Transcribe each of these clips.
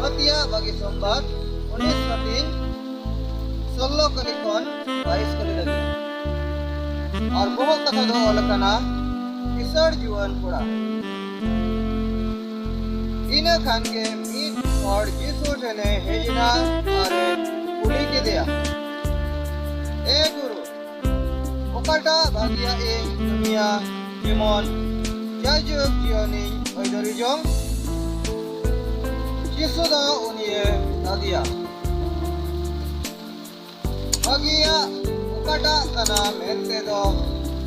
ᱯᱟᱹᱛᱭᱟ ᱵᱟᱜᱮ ᱥᱚᱢᱵᱟᱨ ᱩᱱᱤᱥ ᱠᱟᱹᱴᱤᱱ ᱥᱳᱞᱞᱳ ᱠᱟᱹᱞᱤ ᱠᱷᱚᱱ ᱵᱟᱭᱤᱥ ᱠᱟᱹᱞᱤ ᱞᱟᱹᱜᱤᱫ ᱟᱨ ᱵᱚᱦᱚᱜ ᱠᱟᱛᱷᱟ ᱫᱚ ᱚᱞ ᱟᱠᱟᱱᱟ ᱠᱤᱥᱟᱹᱬ ᱡᱩᱣᱟᱹᱱ ᱠᱚᱲᱟ ᱤᱱᱟᱹ ᱠᱷᱟᱱ ᱜᱮ ᱢᱤᱫ ᱦᱚᱲ ᱡᱤᱥᱩ ᱴᱷᱮᱱᱮ ᱦᱮᱡ ᱮᱱᱟ ᱟᱨᱮ ᱠᱩᱞᱤ ᱠᱮᱫᱮᱭᱟ ᱮ ᱜᱩᱨᱩ ᱚᱠᱟᱴᱟᱜ ᱵᱷᱟᱹᱜᱤᱭᱟ ᱤᱧ ᱠᱟᱹᱢᱤᱭᱟ ᱡᱮᱢᱚᱱ ᱡᱟᱭᱡᱩᱜᱽ ᱡᱤᱭᱚᱱᱤᱧ ᱟᱹᱭᱫᱟᱹᱨᱤ ᱡᱚᱝ ᱡᱤᱥᱩ ᱫᱚ ᱩᱱᱤᱭᱮ ᱞᱟᱫᱮᱭᱟ ᱵᱷᱟᱹᱜᱤᱭᱟ ᱚᱠᱟᱴᱟᱜ ᱠᱟᱱᱟ ᱢᱮᱱᱛᱮ ᱫᱚ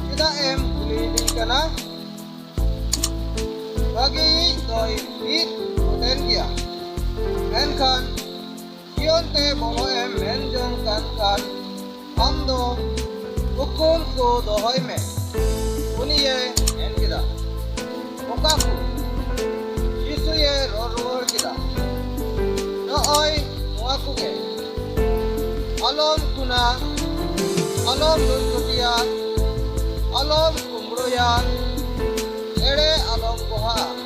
ᱪᱮᱫᱟᱜ ᱮᱢ ᱠᱩᱞᱤᱭᱤᱧ ᱠᱟᱱᱟ ᱵᱷᱟᱹᱜᱤᱭᱤᱡ ᱫᱚᱭ ᱢᱤᱫ ᱛᱟᱦᱮᱱ ᱜᱮᱭᱟ ᱢᱮᱱᱠᱷᱟᱱ ᱡᱤᱭᱚᱱ ᱛᱮ ᱵᱚᱞᱚ ᱮᱢ ᱢᱮᱱ ᱡᱚᱝ ᱠᱟᱱ ᱠᱷᱟᱱ ᱟᱢ ᱫᱚ ᱩᱠᱩᱞ ᱠᱚ ᱫᱚᱦᱚᱭ ᱢᱮ ᱩᱱᱤᱭᱮ ᱢᱮᱱ ᱠᱮᱫᱟ ᱚᱠᱟ ᱠᱚ ᱡᱤᱥᱩᱭᱮ ᱨᱚᱲ ᱨᱩᱣᱟᱹᱲ ᱠᱮᱫᱟ ᱱᱚᱜᱼᱚᱭ ᱱᱚᱣᱟ ᱠᱚᱜᱮ ᱟᱞᱚᱢ ᱠᱩᱱᱟ ᱟᱞᱚᱢ ᱞᱩᱡ ᱠᱚᱴᱤᱭᱟ ᱟᱞᱚᱢ ᱠᱩᱢᱵᱽᱲᱳᱭᱟ ᱮᱲᱮ ᱟᱞᱚᱢ ᱜᱚᱦᱟ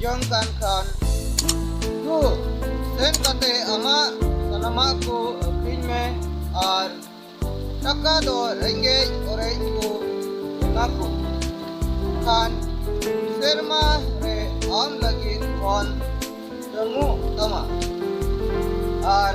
ᱡᱚᱝᱠᱟᱱ ᱠᱷᱟᱱ ᱫᱩ ᱥᱮᱱ ᱠᱟᱛᱮ ᱟᱢᱟᱜ ᱥᱟᱱᱟᱢᱟᱜ ᱠᱚ ᱟᱹᱠᱷᱨᱤᱧ ᱢᱮ ᱟᱨ ᱴᱟᱠᱟ ᱫᱚ ᱨᱮᱸᱜᱮᱡ ᱚᱨᱮᱡ ᱠᱚ ᱮᱢᱟ ᱠᱚ ᱠᱷᱟᱱ ᱥᱮᱨᱢᱟ ᱨᱮ ᱟᱢ ᱞᱟᱹᱜᱤᱫ ᱠᱷᱚᱱ ᱧᱟᱢᱚᱜ ᱛᱟᱢᱟ ᱟᱨ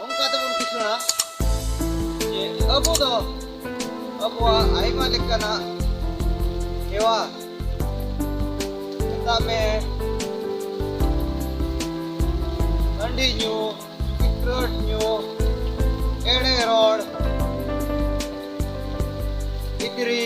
ᱚᱱᱠᱟ ᱛᱮᱵᱚᱱ ᱠᱤᱥᱟᱹᱬᱟ ᱡᱮ ᱟᱵᱚ ᱫᱚ ᱟᱵᱚᱣᱟᱜ ᱟᱭᱢᱟ ᱞᱮᱠᱟᱱᱟᱜ ᱦᱮᱣᱟ ᱢᱮᱛᱟᱜ ᱢᱮ ᱦᱟᱺᱰᱤ ᱧᱩ ᱥᱤᱠᱨᱮᱴ ᱧᱩ ᱮᱲᱮ ᱨᱚᱲ ᱜᱤᱫᱽᱨᱤ